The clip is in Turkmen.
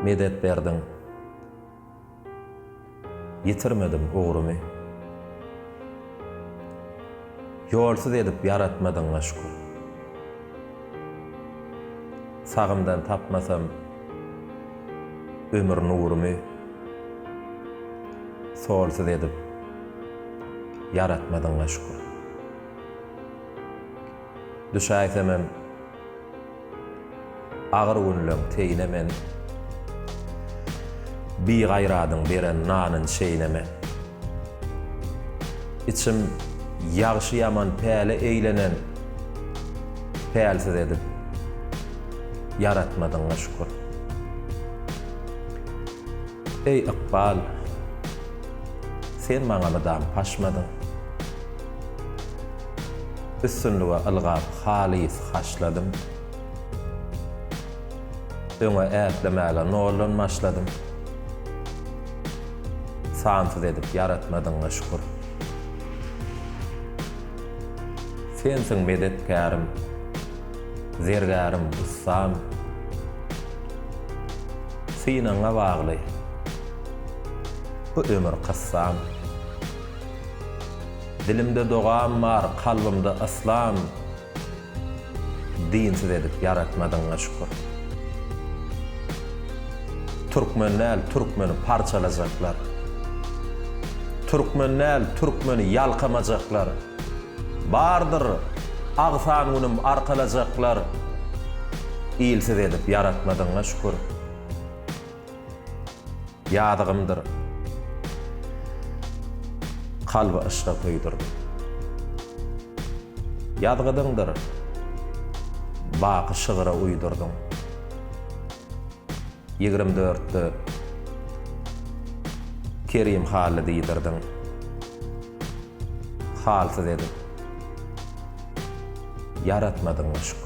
Medet berdiň, ýitirmedim ugrumy. Ýolsuz edip ýaratmadyňa şükür. Sagymdan tapmasam ömür nurumy Solsuz edip ýaratmadyňa şükür Düşäýsemem agyr günleň teýine men Bigaýradyň beren nanyn çeýneme. Içim ýagşy-ýaman päle eýlenen Pälsiz edip ýaratmadyňa şükür Eý ykbal Sen maňa mydam paşmadyň Üstünlige ylgap halys haşladym Öňe ätlemäge noldan başladym. Sansyz edip ýaratmadyňa şükür. Sensiň medetkärim, zergärim, ussam. Synagyňa bagly bu ömür kyssam. Dilimde dogam bar, kalbymda yslam. Dinsiz edip ýaratmadyňa şükür. Türkmen däl türkmeni parçalajaklar. Türkmen däl türkmeni ýalkamajaklar. Bardyr agsan günüm arkalajaklar. Ilsiz edip ýaratmadyňa şükür. Ýazygymdyr kalby yşka köýdürip. Ýazgydyňdyr baky şygra uýdurdyň. Ýigrim dörtde Kerim Hally diýdirdiň. Halsyz edip. Ýaratmadyň goşuk.